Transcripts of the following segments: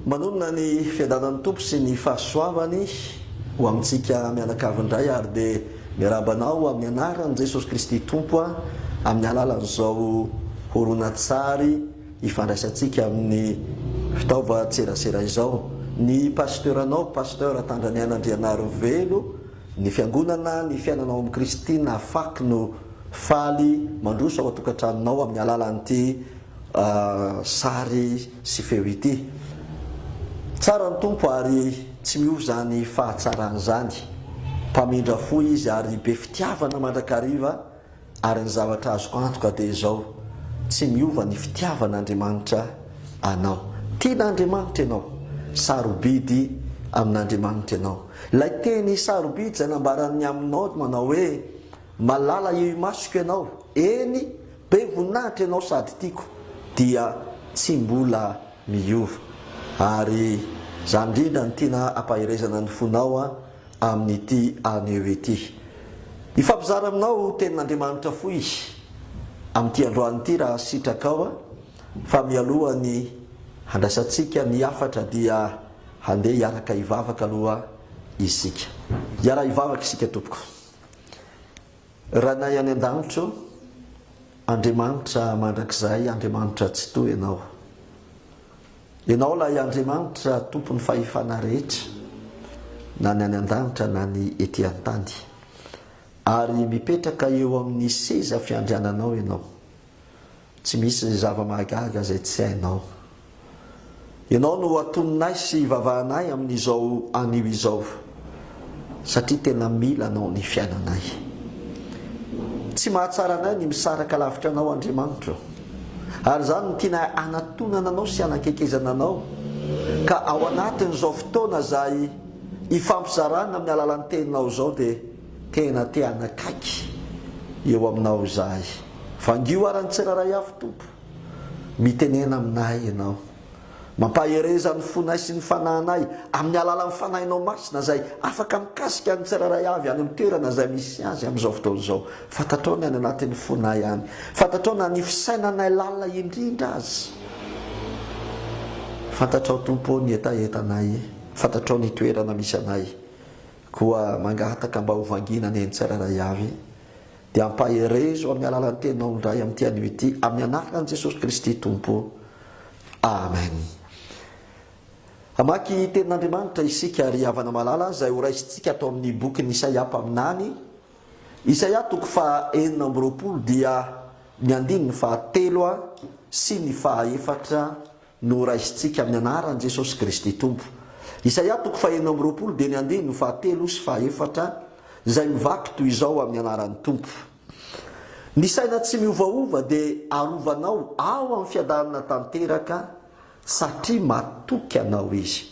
Manonona ny fiadanan'ny Tompo sy ny fahasoavany ho amintsika mianakavy indray ary dia miarahaba anao amin'ny anaran'i Jesosy Kristy Tompo amin'ny alalan'izao horonantsary ifandraisantsika amin'ny fitaovan-tserasera izao. Ny Pasteuranao, Pasteur Tandraniaina Andrianarivelo, ny Fiangonana, ny fiainanao amin'i Kristy nahafaky no faly mandroso ao an-tokantranonao amin'ny alalan'ity sary sy feo ity. Tsara ny Tompo ary tsy miova izany fahatsarany izany. Mpamindra fo Izy ary be fitiavana mandrakariva. Ary ny zavatra azoko antoka dia izao, tsy miova ny fitiavan'Andriamanitra anao. Tian'Andriamanitra ianao. Sarobidy amin'Andriamanitra ianao. Ilay teny sarobidy izay nambaran'ny aminao manao hoe, Malala eo imasoko ianao, eny, be voninahitra ianao sady tiako, dia tsy mbola miova. Ary izany indrindra no tiana hampaherezana ny fonao. amin'ity anio ity. Hifampizara aminao tenin'Andriamanitra fohy amin'ity androany ity raha sitrakao a! Fa mialohan'ny handraisantsika ny hafatra dia handeha hiaraka hivavaka aloha isika. Hiara hivavaka isika tompoko. Ranay any an-danitro, Andriamanitra mandrakizay, Andriamanitra Tsitoha ianao. Ianao ilay Andriamanitra tompon'ny fahefana rehetra, na ny any an-danitra na ny ety an-tany. Ary mipetraka eo amin'ny seza fiandriananao Ianao. Tsy misy zava-mahagaga izay tsy hainao. Ianao no atononay sy ivavahanay amin'izao anio izao. satria tena mila anao ny fiainanay. Tsy mahatsara anay ny misaraka lavitra anao Andriamanitra ô. Ary izany no tianay hanatonana anao sy hanakekezana anao. Ka ao anatin'izao fotoana izay hifampizarana amin'ny alalan'ny teninao izao dia tena te hanakaiky eo aminao izahay. Vangio ary ny tsirairay avy Tompo. Mitenena aminay ianao. Mampahereza ny fonay sy ny fanahinay amin'ny alalan'ny Fanahinao Masina izay afaka mikasika ny tsirairay avy any amin'ny toerana izay misy azy amin'izao fotoana izao. Fantatrao ny any anatin'ny fonay any. Fantatrao na ny fisainanay lalina indrindra aza. Fantatrao Tompo ô ny hetahetanay. Fantatrao ny toerana misy anay. Koa mangataka mba ho vangiana ny an'ny tsirairay avy. Dia ampaherezo amin'ny alalan'ny teninao indray amin'ity anio ity, amin'ny anaran'i Jesosy Kristy Tompo. Amen. Hamaky Tenin'Andriamanitra isika, ry havana malala, izay horaisintsika ato amin'ny bokin'i Isaia mpaminany. Isaia toko faha enina amby roapolo dia ny andininy faha telo sy ny faha efatra Noraisintsika amin'ny anaran'i Jesosy Kristy Tompo. Isaia toko fahenina amby roapolo dieny andininy fahatelo sy fahefatra izay mivaky toy izao amin'ny anaran'ny Tompo. Ny saina tsy miovaova dia arovanao ao amin'ny fiadanana tanteraka satria matoky anao Izy.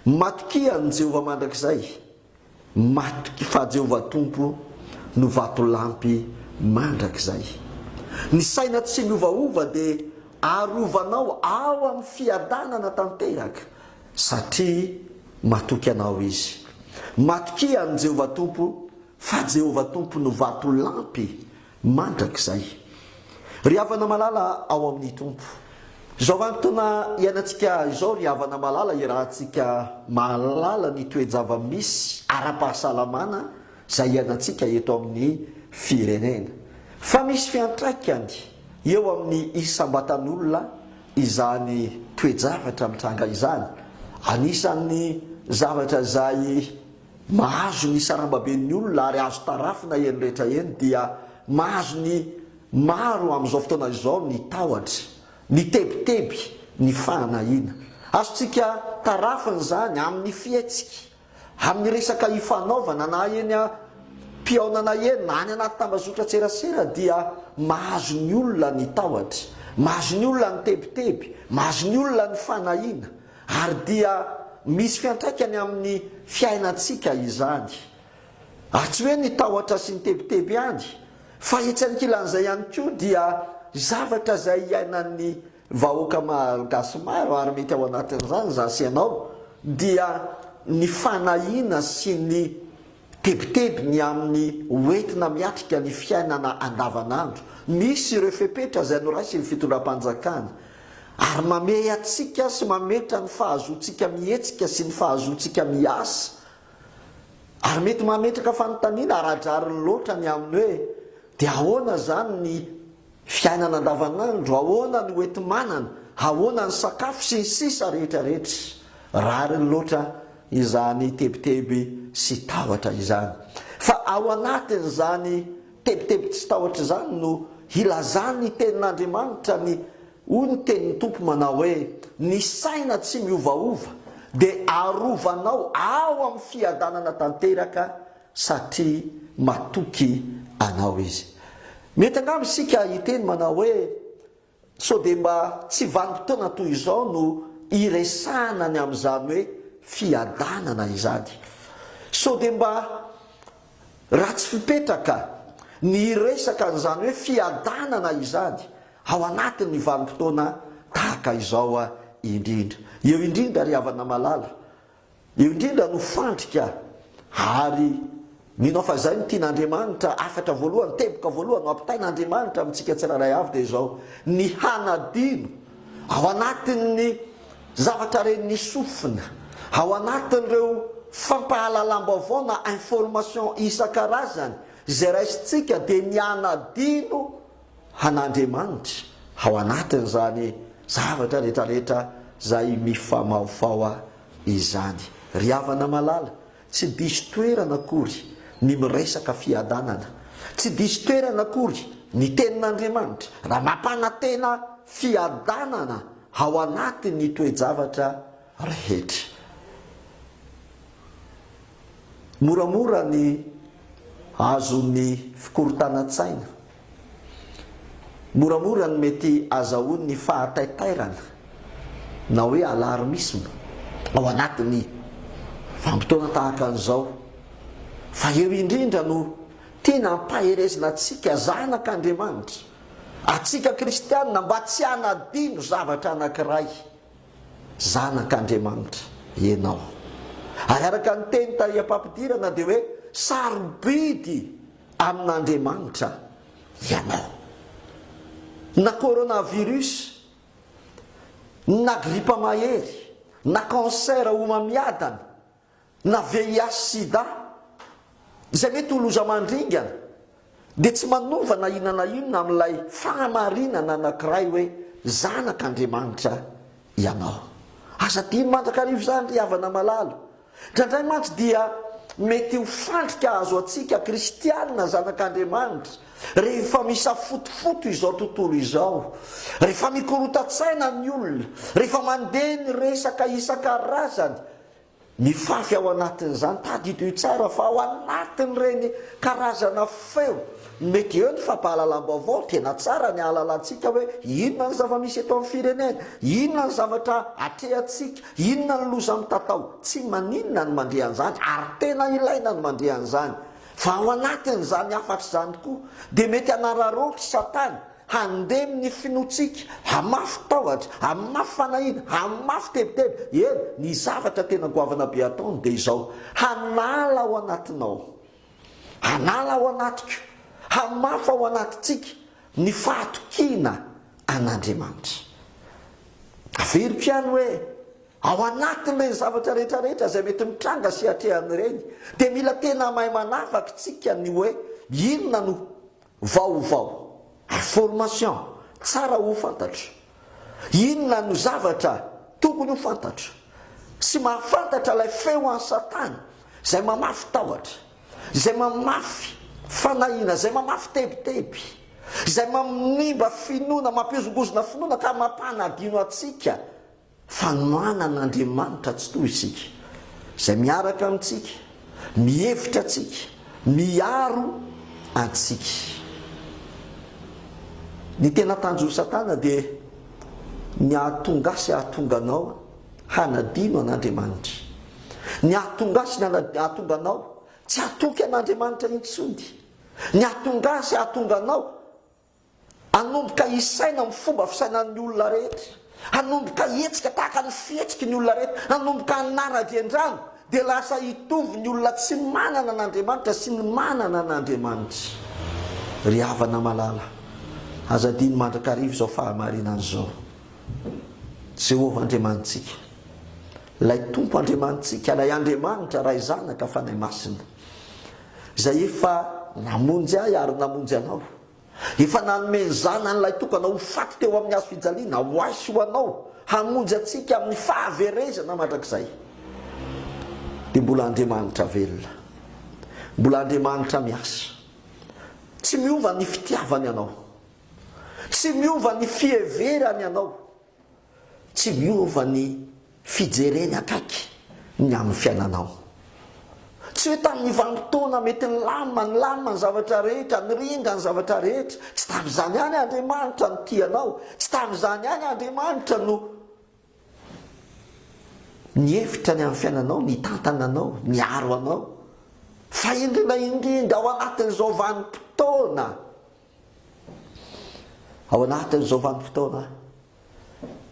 Matokia an'i Jehovah mandrakizay. Matoky fa Jehovah Tompo no vatolampy mandrakizay. Ny saina tsy miovaova dia arovanao ao amin'ny fiadanana tanteraka, satria matoky anao izy. Matokia an'i Jehovah Tompo, fa Jehovah Tompo no vatolampy Mandrakizay. Ry havana malala ao amin'ny Tompo. Izao vanim-potoana iainantsika izao ry havana malala irahantsika mahalala ny toe-java-misy ara-pahasalamana izay iainantsika eto amin'ny firenena. Fa misy fiantraikany eo amin'ny isam-batan'olona izany toe-javatra mitranga izany. Anisan'ny zavatra izay Mahazo ny sarambaben'ny olona ary azo tarafina eny rehetra eny dia mahazo ny maro amin'izao fotoana izao ny tahotra, ny tebiteby, ny fahanahiana. Azontsika tarafina izany amin'ny fihetsika, amin'ny resaka ifanaovana na eny am-pihaonana eny na any anaty tambazotran-tserasera dia mahazo ny olona ny tahotra, mahazo ny olona ny tebiteby, mahazo ny olona ny fanahiana, Ary dia misy fiantraikany amin'ny fiainantsika izany. Ary tsy hoe ny tahotra sy ny tebiteby ihany, fa etsy ankilan'izay ihany koa dia zavatra izay iainan'ny vahoaka malagasy maro, ary mety ao anatin'izany izaho sy ianao, dia ny fanahiana sy ny Tebiteby ny amin'ny hoentina miatrika ny fiainana andavanandro. Misy ireo fepetra izay noraisin'ny fitondram-panjakana ary mamehy antsika sy mametra ny fahazoantsika mihetsika sy ny fahazoantsika miasa. Ary mety mametraka fanontaniana ara-drariny loatra ny amin'ny hoe dia ahoana izany ny. Fiainana andavanandro, ahoana ny hoenti-manana, ahoana ny sakafo sy ny sisa rehetra rehetra. Rariny loatra izany tebiteby sy tahotra izany. Fa ao anatin'izany tebiteby tsy tahotra izany no hilazan'ny tenin'Andriamanitra ny hoy ny tenin'ny Tompo manao hoe, ny saina tsy miovaova dia arovanao ao amin'ny fiadanana tanteraka satria matoky Anao izy. Mety angamba isika hiteny manao hoe, Sao dia mba tsy vanim-potoana toy izao no hiresahana ny amin'izany hoe fiadanana izany? Sao dia mba ratsy fipetraka ny hiresaka an'izany hoe fiadanana izany ao anatin'ny vanim-potoana tahaka izao indrindra? Eo indrindra, ry havana malala, Io indrindra no fandrika ary mino aho fa izay no tian'Andriamanitra, hafatra voalohany, teboka voalohany noampitain'Andriamanitra amintsika tsirairay avy dia izao, ny hanadino ao anatin'ny zavatra ren'ny sofina, ao anatin'ireo fampahalalam-baovao na information isan-karazany izay raisintsika dia ny hanadino an'Andriamanitra ao anatin'izany zavatra rehetrarehetra izay mifamahofaho izany. Ry havana malala, tsy diso toerana akory ny miresaka fiadanana. Tsy diso toerana akory ny Tenin'Andriamanitra raha mampanantena fiadanana ao anatin'ny toe-javatra rehetra. Moramora ny azon'ny fikorontanan-tsaina Moramora no mety azahoan'ny fahataitairana na hoe alarmisma ao anatin'ny vanim-potoana tahaka an'izao, fa eo indrindra no tena ampaherezina antsika zanak'Andriamanitra, antsika kristiana mba tsy hanadino zavatra anankiray. Zanak'Andriamanitra ianao. Ary araka ny teny tahy am-pampidirana dia hoe sarobidy amin'Andriamanitra ianao. Na coronavirus, na gripa mahery, na cancer homamiadana, na VIH sida, izay mety ho loza mandringana, dia tsy manova na inona na inona amin'ilay fahamarinana anankiray hoe zanak'Andriamanitra ianao. Aza adino mandrakariva izany ry havana malala. Indraindray mantsy dia mety ho fandrika azo antsika kristiana zanak'Andriamanitra rehefa misafotofoto izao tontolo izao, rehefa mikorontan-tsaina ny olona, rehefa mandeha ny resaka isan-karazany, Ny fafy ao anatin'izany, tadidio io tsara fa ao anatin'ireny karazana feo mety eo ny fampahalalam-baovao, tena tsara ny ahalalantsika hoe inona ny zava-misy eto amin'ny firenena, inona ny zavatra atrehantsika, inona ny loza mitatao. Tsy maninona ny mandre an'izany ary tena ilaina ny mandre an'izany. Fa ao anatin'izany hafatra izany koa dia mety hanararaotry Satana Handemy ny finoantsika, hamafy tahotra, hamafy fanahiana, hamafy tebiteby. Eny, ny zavatra tena goavana be ataony dia izao, Hanala ao anatinao, hanala ao anatiko, hamafa ao anatintsika ny fahatokiana an'Andriamanitra. Averiko ihany hoe, ao anatin'ireny zavatra rehetrarehetra izay mety mitranga sy atrehana ireny, dia mila tena mahay manavaka isika ny hoe inona no. Vaovao ary formation tsara ho fantatra. Inona no zavatra tokony ho fantatra sy mahafantatra ilay feo an'i Satana izay mamafy tahotra, izay mamafy fanahiana, izay mamafy tebiteby, izay mamnimba finoana, mampihozongozona finoana ka mampanadino antsika Fanohanana Andriamanitra tsy toha isika, izay miaraka amintsika, mihevitra antsika, miaro antsika. Ny tena tanjon'i Satana dia ny hahatonga ahy sy hahatonga anao hanadino an'Andriamanitra. Ny hahatonga ahy sy ny hahatonga anao tsy hatoky an'Andriamanitra intsony. Ny hahatonga ahy sy hahatonga anao Hanomboka hisaina amin'ny fomba fisainan'ny olona rehetra, hanomboka hihetsika tahaka ny fihetsiky ny olona rehetra, hanomboka hanara-drendrano, dia lasa hitovy ny olona tsy manana an'Andriamanitra sy ny manana an'Andriamanitra. Ry havana malala, aza adino mandrakariva izao fahamarinana izao. Jehovah Andriamanitsika, ilay Tompo Andriamanitsika, ilay Andriamanitra, Ray, Zanaka, Fanahy Masina, Izay efa namonjy ahy ary namonjy anao, efa nanome ny Zanany Ilay Tokana ho faty teo amin'ny Hazo fijaliana, ho ahy sy ho anao, hamonjy antsika amin'ny fahaverezana mandrakizay. Dia mbola Andriamanitra velona. Mbola Andriamanitra miasa. Tsy miova ny fitiavany anao. Tsy miova ny fiheverany anao. Tsy miova ny fijereny akaiky ny amin'ny fiainanao. Tsy hoe tamin'ny vanim-potoana mety nilamina, nilamina ny zavatra rehetra, niringa ny zavatra rehetra. Tsy tamin'izany ihany Andriamanitra no tia anao. Tsy tamin'izany ihany Andriamanitra no nihevitra ny amin'ny fiainanao, nitantana anao, niaro anao. Fa indrindra indrindra ao anatin'izao vanim-potoana Ao anatin'izao vanim-potoana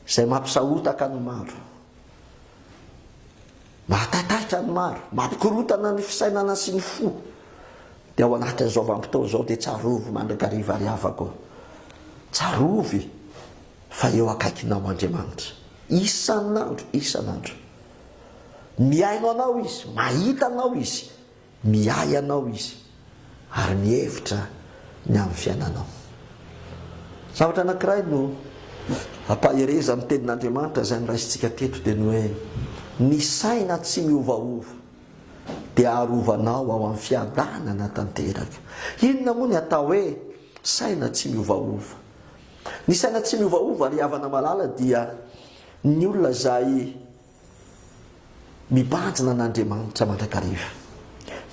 izay mampisahotaka ny maro, mahataitaitra ny maro, mampikorontana ny fisainana sy ny fo, dia ao anatin'izao vanim-potoana izao dia tsarovy mandrakariva ry havako, tsarovy fa eo akaikinao Andriamanitra isan'andro, isan'andro. Mihaino anao Izy, mahita anao Izy. Miahy anao Izy ary mihevitra ny amin'ny fiainanao. Zavatra anankiray no ampaherezan'ny Tenin'Andriamanitra izay noraisintsika teto dia ny hoe, Ny saina tsy miovaova dia arovanao ao amin'ny fiadanana tanteraka. Inona moa ny atao hoe saina tsy miovaova? Ny saina tsy miovaova ry havana malala dia ny olona izay Mibanjina an'Andriamanitra mandrakariva.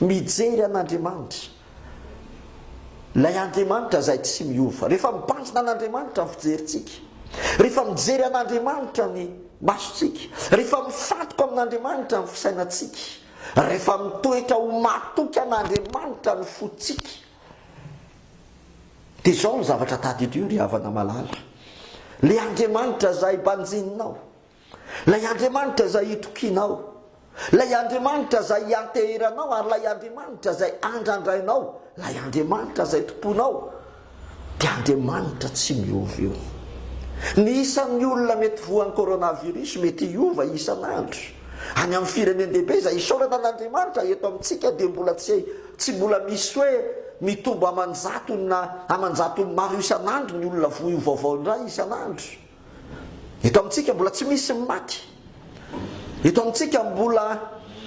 Mijery an'Andriamanitra. Ilay Andriamanitra izay tsy miova. Rehefa mibanjina an'Andriamanitra ny fijerintsika, rehefa mijery an'Andriamanitra ny masontsika, rehefa mifantoka amin'Andriamanitra ny fisainantsika, rehefa mitoetra ho matoky an'Andriamanitra ny fontsika, dia izao ny zavatra tadidio ry havana malala, ilay Andriamanitra izay banjininao, Ilay Andriamanitra izay itokianao, ilay Andriamanitra izay ianteheranao ary ilay Andriamanitra izay andrandrainao, ilay Andriamanitra izay tompoinao dia Andriamanitra tsy miova io. Ny isan'ny olona mety voan'ny coronavirus mety hiova isan'andro. Any amin'ny firenen-dehibe izay isaorana an'Andriamanitra, eto amintsika dia mbola tsy tsy mbola misy hoe mitombo aman-jatony na aman-jatony maro isan'andro ny olona voa io vaovao indray isan'andro. Eto amintsika mbola tsy misy ny maty. Eto amintsika mbola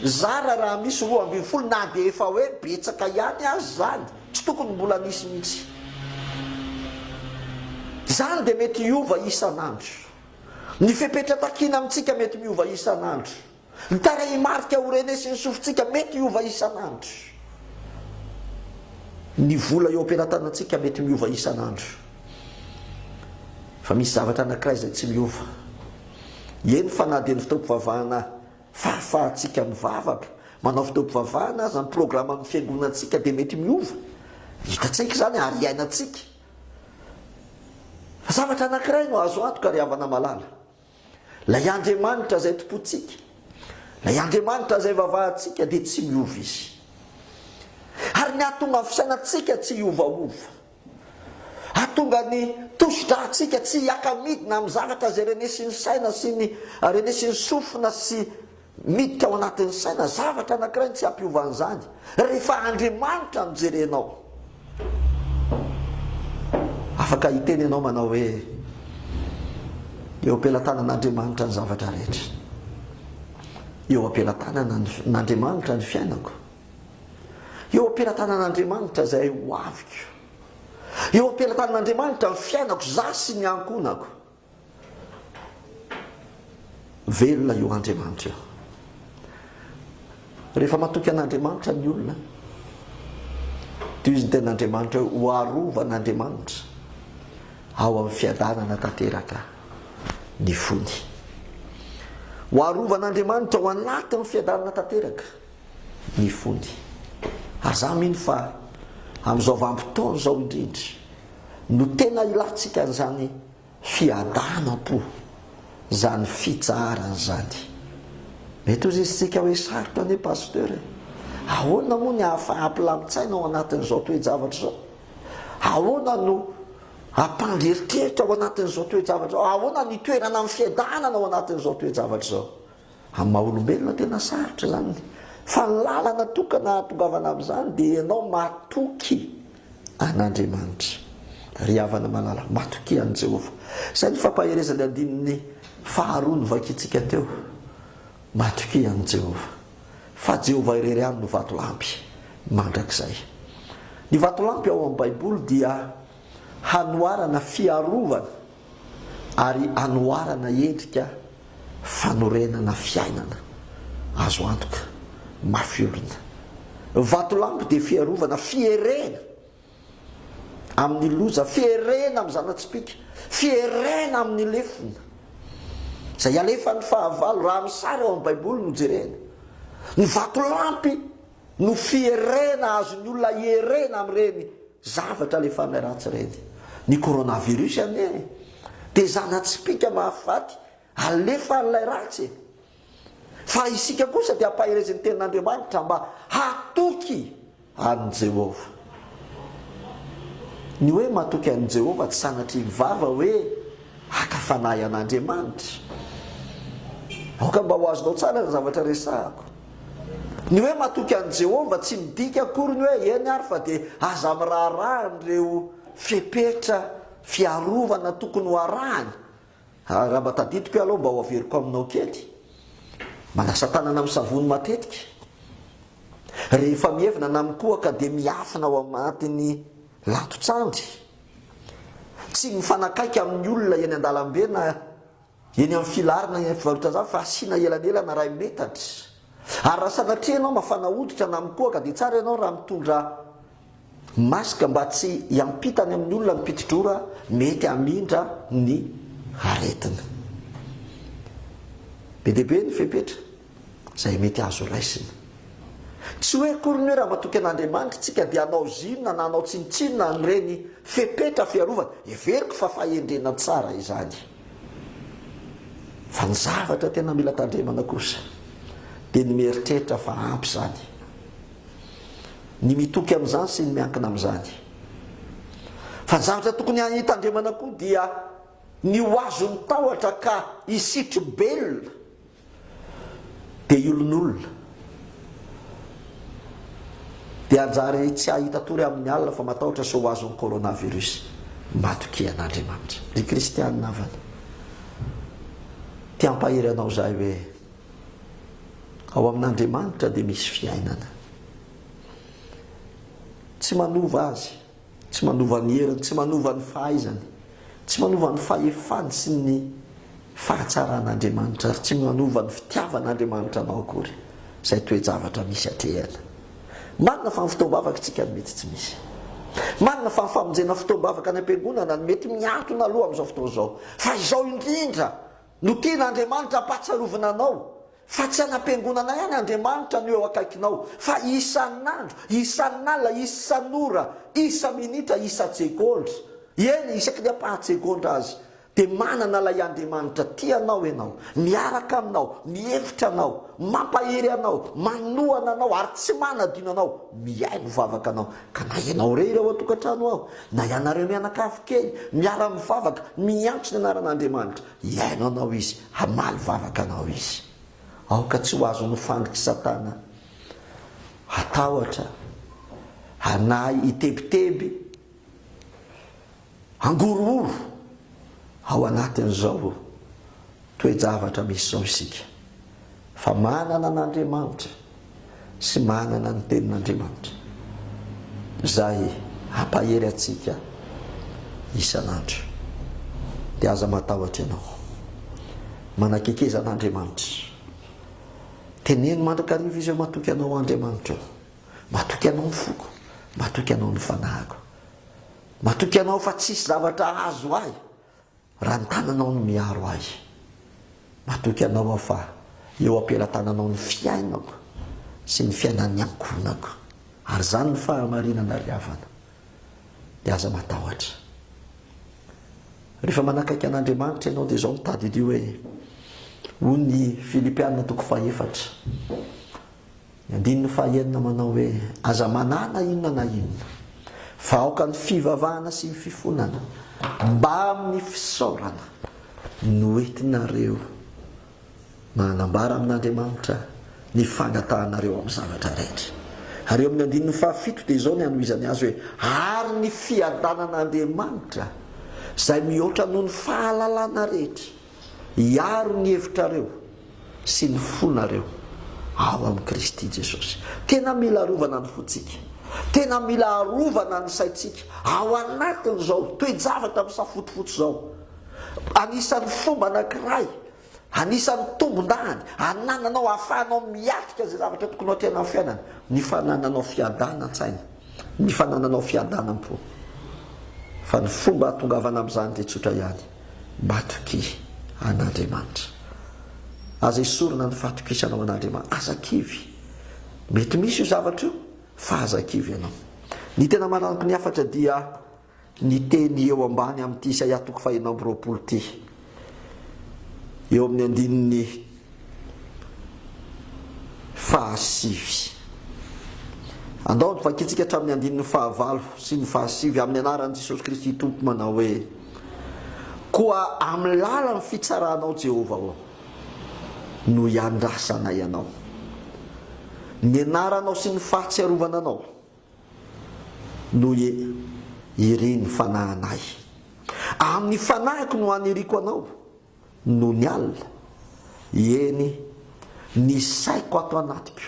zara raha misy roa ambin'ny folo na dia efa hoe betsaka ihany aza izany. Tsy tokony mbola nisy mihitsy. Izany dia mety hiova isan'andro. Ny fepetra takiana amintsika mety miova isan'andro. Ny tarehimarika ho renesin'ny sofintsika mety hiova isan'andro. Ny vola eo am-pelatanantsika mety miova isan'andro. Fa misy zavatra anankiray izay tsy miova, eny fa na dia ny fotoam-pivavahana fahafahantsika mivavaka, manao fotoam-pivavahana aza, ny programan'ny fiangonantsika dia mety miova. Hitantsika izany ary iainantsika. Fa zavatra anankiray no azo antoka ry havana malala. Ilay Andriamanitra izay tompontsika, ilay Andriamanitra izay vavahantsika dia tsy miova izy. Ary ny hahatonga ny fisainantsika tsy hiovaova, hahatonga ny tosidrantsika tsy hiaka-midina amin'ny zavatra izay renesin'ny saina sy ny renesin'ny sofina sy Miditra ao anatin'ny saina zavatra anankiray ny tsy hampiova an'izany, rehefa Andriamanitra no jerenao. Afaka hiteny ianao manao hoe, Eo am-pelatanan'Andriamanitra ny zavatra rehetra. Eo am-pelatanan'Andriamanitra ny fiainako. Eo am-pelatanan'Andriamanitra izay ho aviko. Eo am-pelatanan'Andriamanitra ny fiainako, izaho sy ny ankohonako. Velona io Andriamanitra io. Rehefa matoky an'Andriamanitra ny olona, toy izy ny ten'Andriamanitra hoe ho arovan'Andriamanitra ao amin'ny fiadanana tanteraka ny fony. Ho arovan'Andriamanitra ao anatin'ny fiadanana tanteraka ny fony. Aza mino fa amin'izao vanim-potoana izao indrindra no tena ilantsika an'izany Fiadanam-po zany fitsaharana zany. Mety ho zisitsika hoe sarotra anie Pasteur e! Ahoana moa ny ahafaha-ampilamin-tsaina ao anatin'izao toe-javatra izao? Ahoana no ampandry eritreritra ao anatin'izao toe-javatra izao? Ahoana ny itoerana amin'ny fiadanana ao anatin'izao toe-javatra izao? Amin'ny maha olombelona tena sarotra izany, fa ny lalana tokana hahatongavana amin'izany dia ianao matoky an'Andriamanitra. Ry havana malala, matokia an'i Jehovah. Izay ny fampaherezan'ny andininy faharoa novakintsika teo. Matokia an'i Jehovah, fa Jehovah irery ihany no vatolampy mandrakizay. Ny vatolampy ao amin'ny Baiboly dia hanoharana fiarovana. ary anoharana endrika fanorenana fiainana azo antoka, mafy orina. Vatolampy dia fiarovana, fierena amin'ny loza, fierena amin'ny zana-tsipìka, fierena amin'ny lefona izay alefan'ny fahavalo, raha ny sary ao amin'ny Baiboly no jerena. Ny vatolampy. no fierena azon'ny olona ierena amin'ireny zavatra alefanay ratsy ireny. Ny coronavirus anie dia zana-tsipìka mahafaty alefan'ilay ratsy e! Fa isika kosa dia ampaherezin'ny Tenin'Andriamanitra mba hatoky an'i Jehovah. Ny hoe matoky an'i Jehovah tsy sanatria mivava hoe haka fanahy an'Andriamanitra. Aoka mba ho azonao tsara ny zavatra resahako. Ny hoe matoky an'i Jehovah tsy midika akory ny hoe eny ary fa dia aza miraharaha an'ireo fepetra fiarovana tokony ho arahana. Raha mba tadidiko ialahy, mba ho averiko aminao kely. Manasa tanana amin'ny savony matetika. Rehefa mievina na mikohaka dia miafina ao anatin'ny lato-tsandry. Tsy mifanakaiky amin'ny olona eny an-dalambe na Eny amin'ny filarina eny amin'ny fivarotazava fa asiana elanelana iray metatra. Ary raha sanatria ianao mafana hoditra na mikohaka dia tsara ianao raha mitondra masque mba tsy hiampita any amin'ny olona ny pitidrora mety hamindra ny aretina. Be dia be ny fepetra izay mety azo raisina. Tsy hoe akory ny hoe raha matoky an'Andriamanitra isika dia hanao zinona na hanao tsinontsinona an'ireny fepetra fiarovana, heveriko fa fahendrena tsara izany. Fa ny zavatra tena mila tandremana kosa dia ny mieritreritra fa ampy izany, ny mitoky amin'izany sy ny miankina amin'izany. Fa ny zavatra tokony hitandremana koa dia ny ho azon'ny tahotra ka hisitrobelona Be olonolona. Dia hanjary tsy hahita tory amin'ny alina fa matahotra sao ho azon'ny coronavirus. Matokia an'Andriamanitra. Ry kristianina havana. Te hampahery anao izahay hoe ao amin'Andriamanitra dia misy fiainana. Tsy manova azy. Tsy manova ny heriny, tsy manova ny fahaizany, tsy manova ny fahefany sy ny fahatsaran' Andriamanitra, ary tsy manova ny fitiavan' Andriamanitra anao akory izay toe-javatra misy hatrehana. Marina fa ny fotoam-bavaka tsika no mety tsy misy. Marina fa ny famonjena fotoam-bavaka any am-piangonana no mety miantona aloha amin'izao fotoana izao. Fa izao indrindra! No tiana Andriamanitra hampahatsiarovina anao fa tsy hanam-piangonana ihany Andriamanitra no eo akaikinao fa isan'andro, isan'alina, isan'ora, isa-minitra, isan-tsegondra, eny isaky ny ampahan-tsegondra aza dia manana ilay Andriamanitra tia anao ianao, miaraka aminao, mihevitra anao, mampahery anao, manohana anao ary tsy manadino anao mihaino vavaka anao. Ka na ianao irery ao an-tokantrano aho, na ianareo mianakavy kely, miara-mivavaka, miantso ny anaran'Andriamanitra, hihaino anao Izy, hamaly vavaka anao Izy. Aoka tsy ho azon'ny fanditr'i Satana hatahotra, hanahy hitebiteby. Hangorohoro ao anatin'izao toe-javatra misy izao isika, fa manana an'Andriamanitra sy manana ny Tenin'Andriamanitra, izay hampahery antsika isan'andro. Dia aza matahotra ianao. Manakaikezana an'Andriamanitra. Teneno mandrakariva izy hoe, Matoky anao Andriamanitra ô. Matoky anao ny foko. Matoky anao ny fanahiko. Matoky Anao fa tsisy zavatra hahazo ahy raha ny tananao no miaro ahy. Matoky Anao aho fa eo am-pelatananao ny fiainako sy ny fiainan'ny ankohonako. Ary izany no fahamarinana ry havana. Dia aza matahotra. Rehefa manakaiky an'Andriamanitra ianao dia izao no tadidio hoe, hoy ny Filipiana toko fahefatra, Ny andininy fahenina manao hoe, Aza manana inona na inona, fa aoka ny fivavahana sy ny fifonana mbamin'ny fisaorana no hoentinareo mba hanambara amin'Andriamanitra ny fangatahanareo amin'ny zavatra rehetra. Ary eo amin'ny andininy fahafito dia izao ny hanohizany azy hoe, Ary ny fiadanan'Andriamanitra izay mihoatra noho ny fahalalana rehetra, hiaro ny hevitrareo sy ny fonareo ao amin'i Kristy Jesosy. Tena mila arovana ny fontsika. Tena mila arovana ny saintsika ao anatin'izao toe-javatra misafotofoto izao. Anisan'ny fomba anankiray, anisan'ny tombondahany anananao ahafahanao miatrika izay zavatra tokony ho tena amin'ny fiainana, ny fanananao fiadanan-tsaina, ny fanananao fiadanan-po. Fa ny fomba hahatongavana amin'izany dia tsotra ihany. Matokia an'Andriamanitra. Aza esorina ny fahatokisanao an'Andriamanitra. Aza kivy. Mety misy io zavatra io, fa aza kivy ianao. Ny tena manampy ny hafatra dia ny teny eo ambany amin'ity Isaia toko fahenina amby roapolo ity. Eo amin'ny andininy fahasivy. Andao ny vakintsika hatramin'ny andininy fahavalo sy ny fahasivy amin'ny anaran'i Jesosy Kristy Tompo manao hoe. Koa amin'ny lalan'ny fitsaranao Jehovah ô, no iandrasanay anao. Ny anaranao sy ny fahatsiarovana anao no irin'ny fanahinay. Amin'ny fanahiko no aniriako anao, Nony alina, eny, ny saiko ato anatiko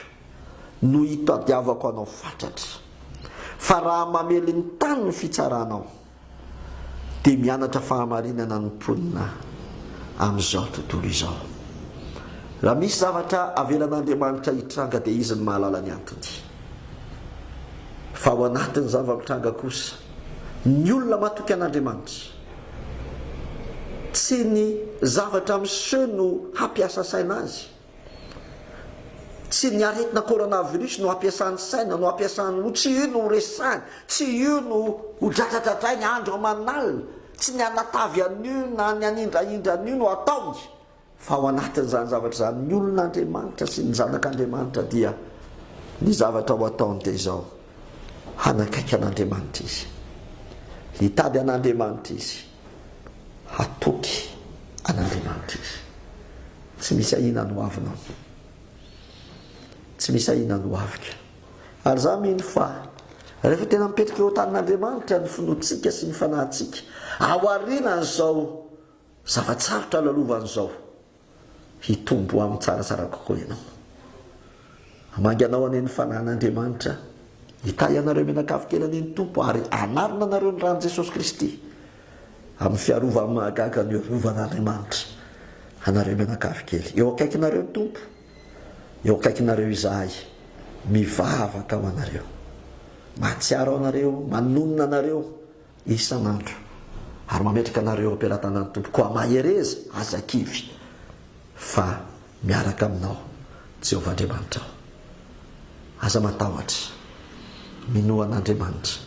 no itadiavako Anao fatratra, fa raha mamely ny tany ny fitsaranao, dia mianatra fahamarinana ny mponina amin'izao tontolo izao. Raha misy zavatra avelan'Andriamanitra hitranga dia Izy no mahalala ny antony. Fa ao anatin'ny zava-mitranga kosa, ny olona matoky an'Andriamanitra, Tsy ny zavatra miseho no hampiasa saina azy. Tsy ny aretina coronavirus no hampiasany saina, no hampiasany loha, tsy io no ho resahiny, tsy io no ho dradradradrainy andro aman'alina, tsy ny hanatavy an'io na ny hanindrahindra an'io no ataony. Fa ao anatin'izany zavatra izany, ny olon'Andriamanitra sy ny zanak'Andriamanitra dia ny zavatra ho ataony dia izao, hanakaiky an'Andriamanitra izy, hitady an'Andriamanitra izy, hatoky an'Andriamanitra izy. Tsy misy ahiana ny hoavinao. Tsy misy ahiana ny hoaviko. Ary za mino fa rehefa tena mipetraka eo an-tanin'Andriamanitra ny finoantsika sy ny fanahintsika, ao aorianan'izao Zava-tsarotra lalovany izao hitombo amin'ny tsaratsara kokoa ianao. Hamangy anao anie ny Fanahin'Andriamanitra hitahy anareo mianakavy tena ny ny Tompo ary hanarina anareo ny ran'i Jesosy Kristy amin'ny fiarovany mahagaga ny rovan'Andriamanitra anareo mianakavy kely. Eo akaikinareo ny Tompo, eo akaikinareo izahay mivavaka ho anareo. Mahatsiaro anareo, manonona anareo. isan'andro, ary mametraka anareo eo am-pelatanan'ny Tompo, koa mahereza, aza kivy, fa miaraka aminao Jehovah Andriamanitrao. Aza matahotra, minoa an'Andriamanitra,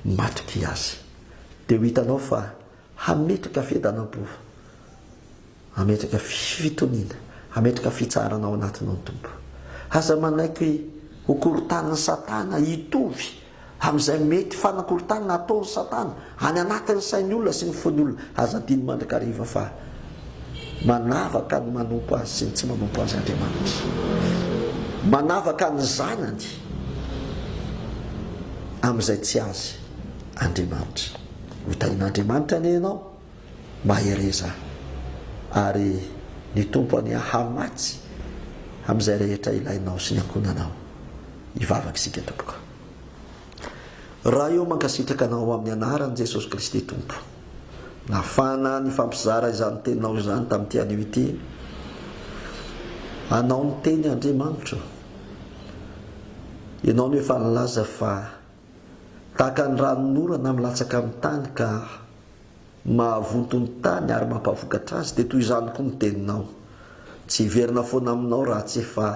matokia azy, dia ho hitanao fa hametraka fihedana am-po Hametraka fitoniana, hametraka fitsaharana ao anatinao ny Tompo. Aza manaiky ho korontanin'i Satana hitovy amin'izay mety fanakorontanana ataon'i Satana any anatin'ny sain'ny olona sy ny fon'ny olona. Aza adino mandrakariva fa manavaka ny manompo Azy sy ny tsy manompo Azy Andriamanitra. Manavaka ny zanany amin'izay tsy Azy Andriamanitra. Ho tahin'Andriamanitra anie ianao. Mahereza ary ny Tompo any hahamatsy amin'izay rehetra ilainao sy ny ankohonanao. Hivavaka isika tompoko. Ray ô mankasitraka anao amin'ny anaran'i Jesosy Kristy Tompo nahafahana nifampizara izany teninao izany tamin'ity anio ity. Anao ny teny Andriamanitro. Ianao no efa nilaza fa tahaka ny ranon'orana milatsaka amin'ny tany ka mahavonto ny tany ary mampavokatra azy, dia toy izany koa ny teninao. Tsy hiverina foana aminao raha tsy efa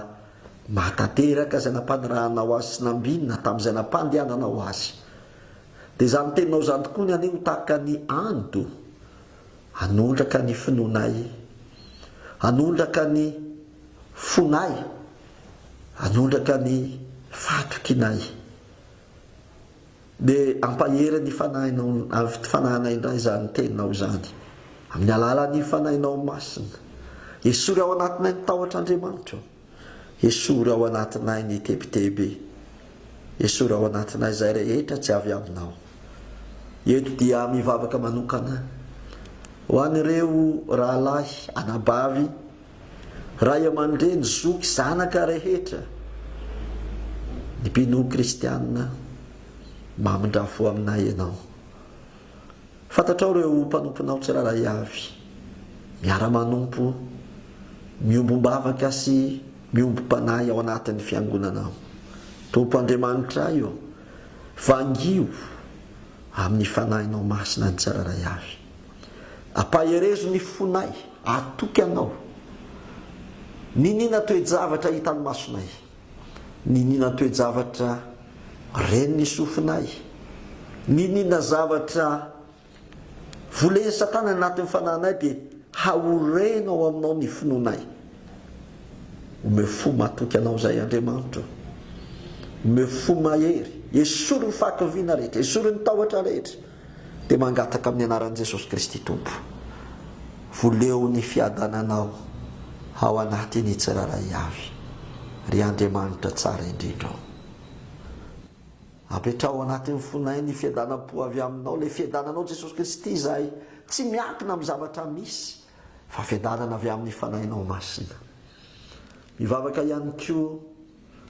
mahatanteraka izay nampanirahanao azy sy nambinina tamin'izay nampandehananao azy. Dia izany teninao izany tokoa ny anay ho tahaka ny ando, hanondraka ny finoanay, hanondraka ny fonay, hanondraka ny fahatokianay. Dia hampahery ny fanahinao ny fanahinay indray izany teninao izany, amin'ny alalan'ny fanahinao masina. Esory ao anatinay ny tahotr'Andriamanitra. Esory ao anatinay ny tebiteby. Esory ao anatinay izay rehetra tsy avy aminao. Eto dia mivavaka manokana ho an'ireo rahalahy anabavy. Ray aman-dreny, zoky, zanaka rehetra, ny mpinono kristianina, mamindrà fo aminay ianao. Fantatrao ireo mpanomponao tsirairay avy, miara-manompo, miombom-bavaka sy miombom-panahy ao anatin'ny Fiangonanao. Tompo Andriamanitray ô, vangio amin'ny Fanahinao Masina ny tsirairay avy. Ampaherezo ny fonay, atoky Anao. Niniana toe-javatra hitan'ny masonay, niniana toe-javatra ren'ny sofinay, niniana zavatra volen'i Satana ny anatin'ny fanahinay dia haoreno ao Aminao ny finoanay. Omeo fo matoky Anao izay Andriamanitra o. Omeo fo mahery, esory ny fahakiviana rehetra, esory ny tahotra rehetra. Dia mangataka amin'ny anaran'i Jesosy Kristy Tompo, voleo ny fiadananao ao anatin'ny tsirairay avy, ry Andriamanitra tsara indrindra o. Apetraho ao anatin'ny fonay ny fiadanam-po avy aminao, ilay fiadananao Jesosy Kristy izay tsy miankina amin'ny zavatra misy fa fiadanana avy amin'ny Fanahinao Masina. Mivavaka ihany koa.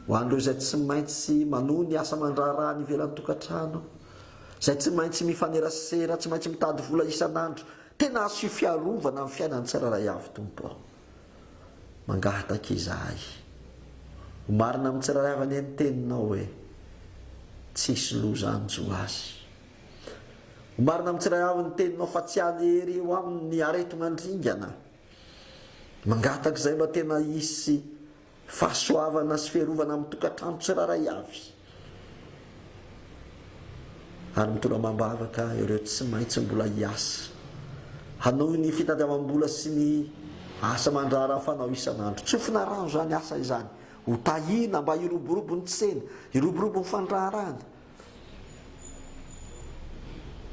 Ho an'ireo izay tsy maintsy manohy ny asa aman-draharaha any ivelan'ny tokantrano, izay tsy maintsy mifanerasera, tsy maintsy mitady vola isan'andro, tena asio fiarovana amin'ny fiainan'ny tsirairay avy, Tompo ô. Mangahataka izahay. Ho marina amin'ny tsirairay avy anie ny Teninao hoe, Tsy hisy loza hanjo azy. Ho marina amin'ny tsirairay avy ny Teninao fa tsy any ery eo aminy ny aretina andringana. Mangataka izay mba tena hisy Fahasoavana sy fiarovana amin'ny tokantrano tsirairay avy, ary mitondra amam-bavaka ireo tsy maintsy mbola hiasa hanohy ny fitadiavam-bola sy ny asa aman-draharaha fanao isan'andro. Tsofina rano izany asa izany, ho tahiana mba hiroborobo ny tsena, hiroborobo ny fandraharahana.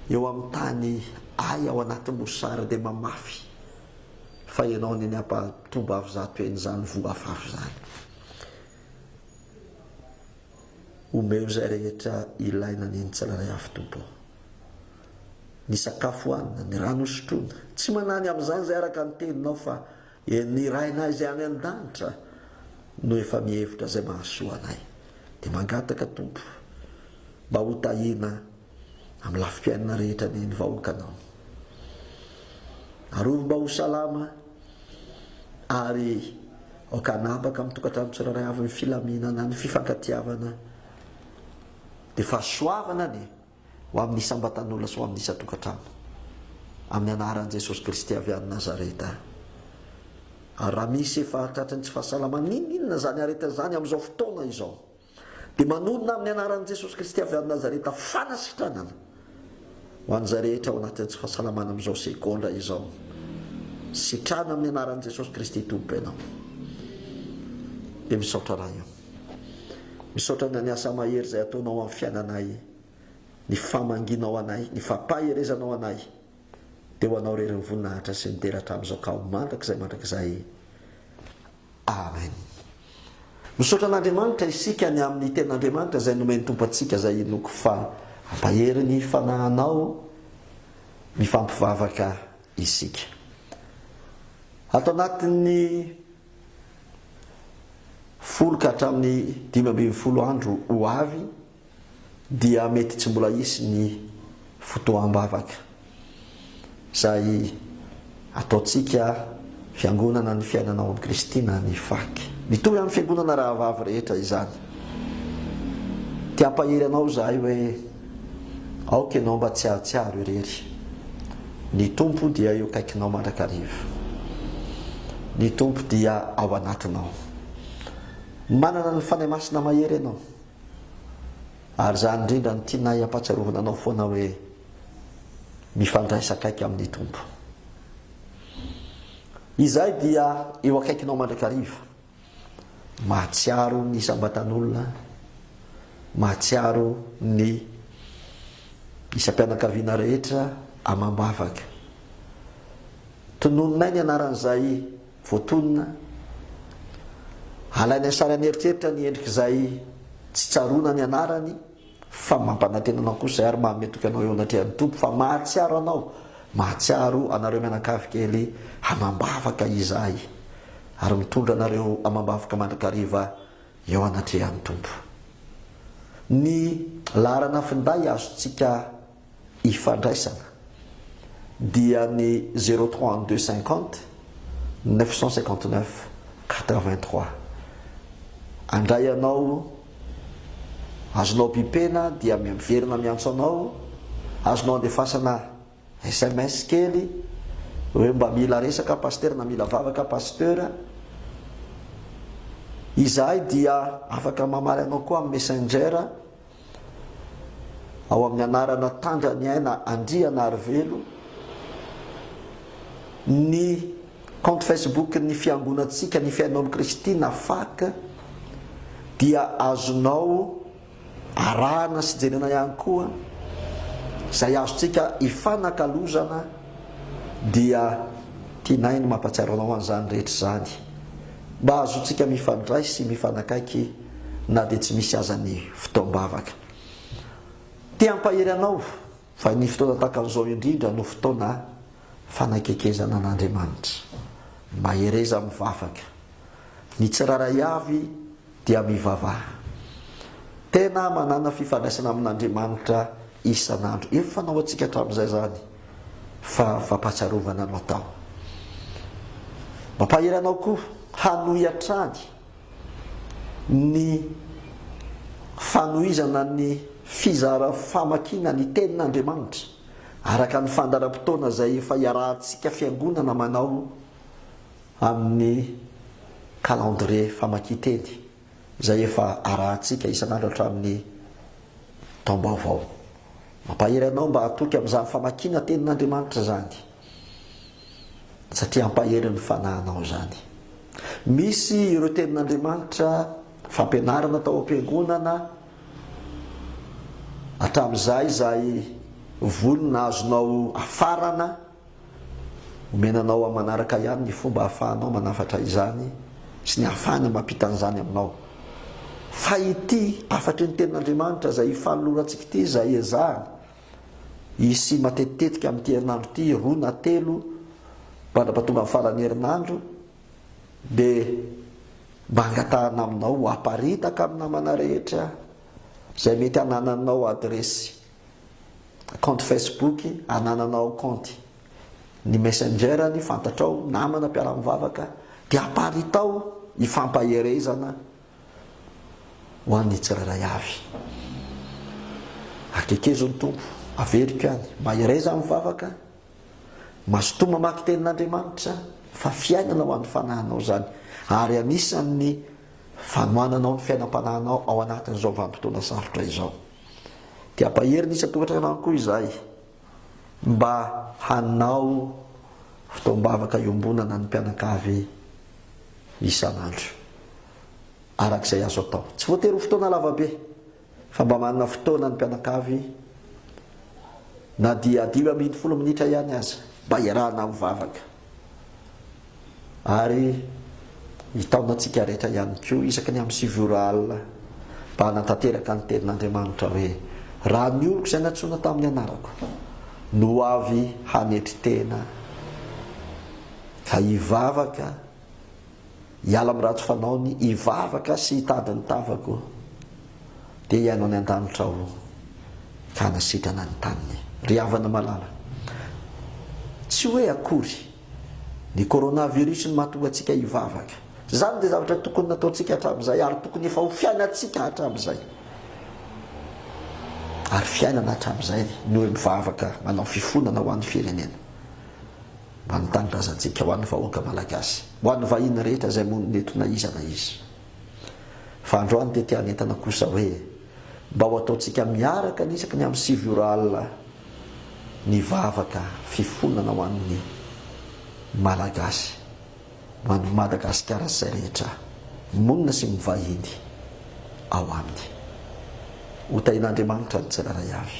Eo amin'ny tany ay ao anaty mosary dia mamafy fa ianao anie ny ampahatombavy zato heny izany voa afafy izany. Omeo izay rehetra ilaina anie ny tsirairay avy Tompo ô. Ny sakafo hohanina, ny rano hosotroina. Tsy manany amin'izany izay araka ny teninao fa Eny, ny Rainay izay any an-danitra no efa mihevitra izay mahasoa anay. Dia mangataka, Tompo, mba ho tahiana amin'ny lafim-piainana rehetra ny ny vahoakanao. Arovy mba ho salama ary aoka hanapaka amin'ny tokantrano tsirairay avy ny filaminana, ny fifankatiavana. Dia fahasoavana ny Ho amin'ny isam-batan'olona sy ho amin'ny isan-tokantrano. Amin'ny anaran'i Jesosy Kristy avy any Nazareta. Ary raha misy efa tratry ny tsy fahasalamana n'inon'inona izany aretina izany amin'izao fotoana izao, dia manonona amin'ny anaran'i Jesosy Kristy avy any Nazareta fanasitranana ho an'izay rehetra ao anatin'ny tsy fahasalamana amin'izao segondra izao. Sitrana amin'ny anaran'i Jesosy Kristy Tompo ianao. Dia misaotra Ray o. Misaotra na ny asa mahery izay ataonao amin'ny fiainanay, ny famangianao anay, ny fampaherezanao anay, dia ho anao irery ny voninahitra sy ny dera hatramin'izao ka ho mandrakizay mandrakizay. Amen. Misaotra an'Andriamanitra isika ny amin'ny tenin'Andriamanitra izay nomen'ny Tompo antsika izay inoako fa hampahery ny fanahinao mifampivavaka isika. Ato anatin'ny Folo ka hatramin'ny dimy ambin'ny folo andro ho avy dia mety tsy mbola hisy ny fotoam-bavaka. Izay ataontsika Fiangonana ny Fiainana ao amin'i Kristy na ny Fak. Mitovy amin'ny Fiangonana rahavavy rehetra izany. Te-hampahery anao izahay hoe Aoka ianao mba tsy hahatsiaro irery. Ny Tompo dia eo akaikinao mandrakariva. Ny Tompo dia ao anatinao. Manana ny Fanahy Masina mahery ianao. Ary izany indrindra no tianay hampatsiarovana anao foana hoe, mifandraisa akaiky amin'ny Tompo. Izahay dia eo akaikinao mandrakariva. Mahatsiaro ny isam-batan'olona, mahatsiaro ny isam-pianakaviana rehetra amam-bavaka. Tononinay ny anaran'izay voatonona, alainay sary an'eritreritra ny endrik'izay tsy tsaroana ny anarany. Fa mampanantena anao kosa izahay ary mahametoky anao eo anatrehan'ny Tompo fa mahatsiaro anao, mahatsiaro anareo mianakavy kely amam-bavaka izahay, ary mitondra anareo amam-bavaka mandrakariva eo anatrehan'ny Tompo. Ny laharana finday azontsika. ifandraisana dia ny zero trois un deux cinquante neuf cent cinquante neuf quatre vingt trois handray ianao azonao bipena dia miverina miantso anao azonao andefasana sms kely hoe mba mila resaka pasitera na mila vavaka pasitera izahay dia afaka mamaly anao koa amin'ny messenger ao amin'ny anarana Tandranyaina Andrianarivelo, ny compte Facebook ny Fiangonantsika ny Fihainoan'i Kristy na fac dia azonao arahana sy jerena ihany koa izay azontsika ifanakalozana dia tianay ny mampatsiaro anao an'izany rehetra izany. mba hahazoantsika mifandray sy mifanakaiky na dia tsy misy aza ny fotoam-bavaka. Te hampahery anao fa ny fotoana tahaka an'izao indrindra no fotoana fanakekezana an'Andriamanitra. Mahereza mivavaka. Ny tsirairay avy. dia mivavaha. Tena manana fifandraisana amin'Andriamanitra isan'andro. Efa fanao antsika hatramin'izay izany fa fampahatsiarovana no atao. Mampahery anao koa hanohy hatrany ny fanohizana ny fizara famakiana ny Tenin'Andriamanitra araka ny fandaharam-potoana izay efa iarahantsika Fiangonana manao. amin'ny kalandrie famakian-teny izay efa arahantsika isan'andro hatramin'ny taom-baovao. Mampahery anao mba hatoky amin'izany famakiana Tenin'Andriamanitra izany, satria hampahery ny fanahinao izany. Misy ireo Tenin'Andriamanitra fampianarana tao am-piangonana hatramin'izay izay vonona azonao hafarana. Omena anao amin'ny manaraka ihany ny fomba ahafahanao manafatra izany sy ny ahafahany mampita an'izany aminao. Fa ity hafatry ny Tenin'Andriamanitra izay hifanolorantsika ity izay ezahana hisy matetitetika amin'ity herinandro ity, roa na telo mandrapa tonga ny faran'ny herinandro, dia mba angatahana aminao ho aparitaka amin'ny namana rehetra izay mety hanananao adiresy Kaonty Facebook anananao kaonty ny messenger ny fantatrao namana mpiara-mivavaka dia aparitao hifampaherezana ho an'ny tsirairay avy Akekezo ny Tompo averiko any mahereza amin'ny vavaka mazotoa mamaky tenin'Andriamanitra fa fiainana ho an'ny fanahinao izany ary anisan'ny fanohananao ny fiainam-panahinao ao anatin'izao vanim-potoana sarotra izao Dia ampahery ny isan-tokantranano koa izahay mba hanao fotoam-bavaka iombonana ny mpianakavy isan'andro araka izay azo atao. Tsy voatery ho fotoana lavabe fa mba manana fotoana ny mpianakavy na dia dimy ambin'ny folo minitra ihany aza mba iarahana mivavaka. Ary hitaona antsika rehetra ihany koa, isaky ny amin'ny sivy ora alina, mba hanatanteraka ny Tenin'Andriamanitra hoe, Raha ny oloko izay nantsoina tamin'ny anarako no ho avy hanetry tena, ka hivavaka Hiala amin'ny ratsy fanaony, hivavaka sy hitady ny tavako, dia hihaino any an-danitra aho ka hanasitrana ny taniny. Ry havana malala, tsy hoe akory ny coronavirus no mahatonga antsika hivavaka. Izany dia zavatra tokony nataontsika hatramin'izay ary tokony efa ho fiainantsika hatramin'izay. Ary fiainana hatramin'izay ny hoe mivavaka manao fifonana ho an'ny firenena. Manontany razantsika ho an'ny vahoaka Malagasy, ho an'ny vahiny rehetra izay monina eto na iza na iza. Fa androany dia te hanentana kosa hoe mba ho ataontsika miaraka ny isaky ny amin'ny sivy ora alina ny vavaka fifonana ho an'ny Malagasy, ho an'ny Madagasikara sy izay rehetra monina sy mivahiny ao aminy. Ho tahin'Andriamanitra ny tsirairay avy.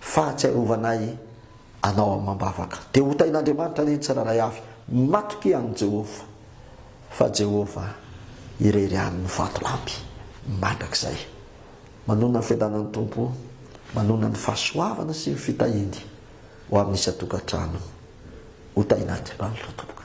fahatsiarovana ahy Anao amam-bavaka. Dia hotahin'Andriamanitra anie ny tsirairay avy matokia an'i Jehovah, fa Jehovah irery ihany no vatolampy mandrakizay. Manonona ny fiadanan'ny Tompo, manonona ny fahasoavana sy ny fitahiany ho amin'ny isan-tokantrano. Hotahin'Andriamanitra tompoka.